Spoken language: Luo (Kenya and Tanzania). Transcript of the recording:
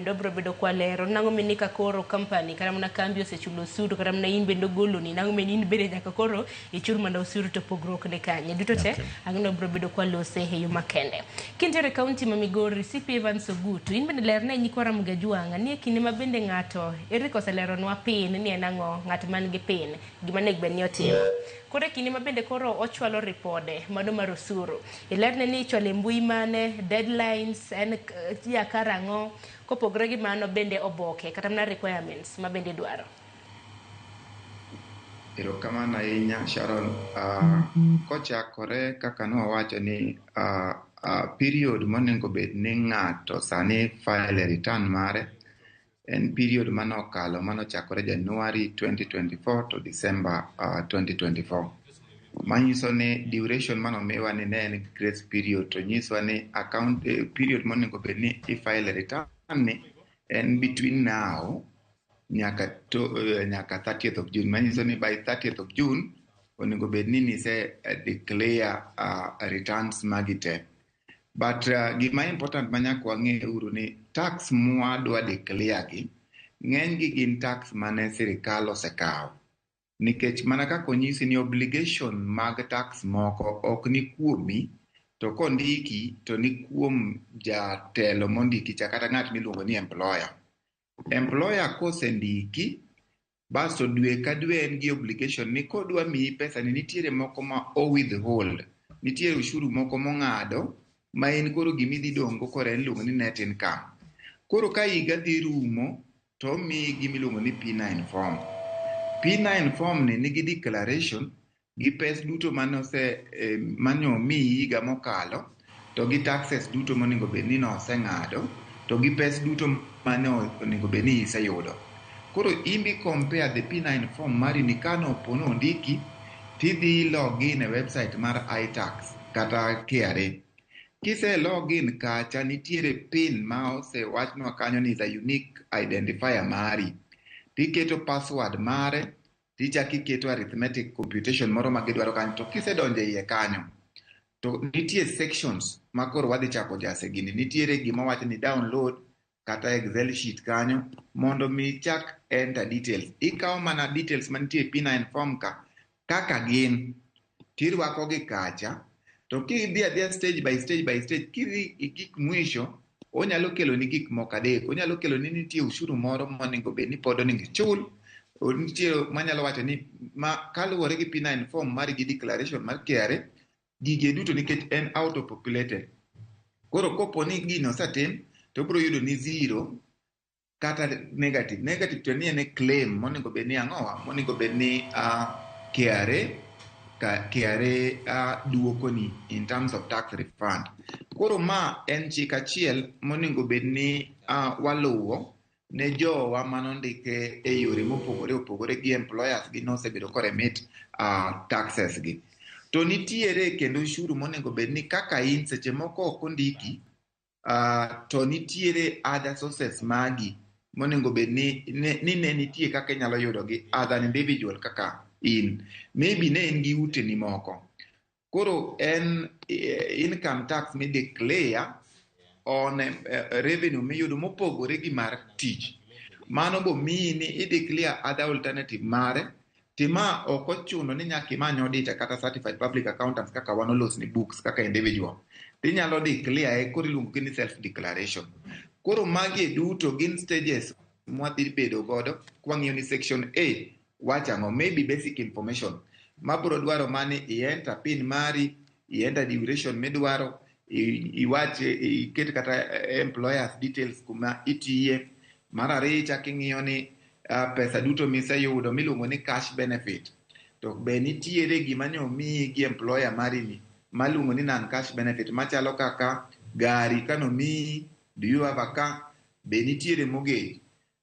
kendo biro bedo kwalero nang'o mini ka koro company kata mana kambi osechulo osuru kata mana in bende ogoloni nang'o mini in bende nyaka koro ichul mana osuru to pogruok ni kanye duto te okay. ang'no biro bedo kwalose e yo makende kintere kaunti ma migori cp evans ogutu in bende lerne nyikwa ramogi ajwang' ni e kinde ma bende ng'ato eric oseleronwa pin ni en ang'o ng'at man gi pin gima nego bed ni otimo Koro e kinde ma bende koro ochwalo ripode mano mar osuru, ilerne ni ichwalo e mbui mane, deadlines en ya karang'o. Kopogre gi mano bende oboke kata mana requirements ma bende idwaro. Erokamano ahinya Sharon. Uh, kochakore kaka nowacho ni uh, uh, period monego bed ni ng'ato sani file return mare En period mane okalo mane ochakore January 2024 to December uh, 2024. Manyiso ni duration mane omiwa ni ne en grace period to nyisowa ni account eh, period monego bed ni ifile return ni en between now nyaka to, eh, nyaka 30th of June. Manyiso ni by 30th of June onego bed ni nise eh, declare uh, returns magi te. but uh, gima important ma nyaka wang'e uru ni tax mwadwa declare gi ng'eny gi gin tax mane sirikal osekawo nikech mana kaka onyisi ni obligation mag tax moko ok ni kuomi to kondiki to ni kuom jatelo mondiki cha kata ng'at miluongo ni employer Employer kosendiki basto dwe ka dwe en gi obligation ni kodwa miyi pesa ni nitiere moko ma o withhold, nitiere ushuru moko mong'ado ma in koro gima idhi dong'go koro en iluongo ni net income. Koro ka higa dhi rumo to omiyi gima iluongo ni P9 form. P9 form ni nigi declaration gi pes duto manose eh, mane omiyi higa mokalo to gi taxes duto monego bed ni noseng'ado to gi pes duto mane onego bed ni iseyudo koro imbi compare the p9 form mari ni kano po ni ondiki tidhi log in e website mar itax kata KRA kise log in kacha nitiere pin ma osewachnwa kanyo ni is a unique identifier mari tiketo password mare tichako iketo arithmetic computation moro ma gidwaro kanyo to kisedonjo iye kanyo to nitie sections ma koro wadhi chako jase gini nitiere gima wacho ni download kata excel sheet kanyo mondo mi ichak enter details ikawo mana details mantie e p9 form ka kaka gin tirwako gi kacha to kidhi adhiya stage by stage by stage kidhi gik mwisho onyalo kelo ni gik moko adek onyalo kelo ni nitie ushuru moro monego bed ni pod onego ichul nitie manyalo wacho ni ma kaluwore gi P9 form mar gi declaration mar KRA gige duto nikech en out of populated koro kopo ni gino osetim to bro yudo ni zero kata negative negative to ni en claim monego bed ni ang'owa monego bed ni uh, KRA ka KRA uh, duokoni in terms of tax refund koro ma en chik achiel monego bed ni uh, waluwo ne jowa mano ndike e yore mopogore opogore gi employers gi nosebedo koremit uh, taxes gi to nitiere kendo ushuru monego bed ni kaka in seche moko ok ondiki uh, to nitiere other sources magi monego bed ni ne, ni ne nitie kaka inyalo yudogi as an individual kaka in maybe ne in gi uteni moko koro en eh, income tax mi declare on eh, revenue miyudo mopogore gi mar tich mano bomiyi ni ideclare other alternative mare Tima ok ochuno ni nyaka imany auditor kata certified public accountants kaka wan olos ni books kaka individual. Tinyalo declare e koro iluongo gi ni self declaration. Koro magi e duto gin stages mwadhi bedo godo kwang'iyo ni section A wacho ang'o maybe basic information mabro dwaro mani i enter pin mari ienda duration midwaro iwache iket kata eh, employers details kuma itiye mar ariyo ichak ing'iyo ni ah, pesa duto miseyudo miluongo ni cash benefit to be nitiere gima ne omiyi gi employer marini maluongo ni non cash benefit machalo kaka gari kano miyi do you have a car be nitiere mogej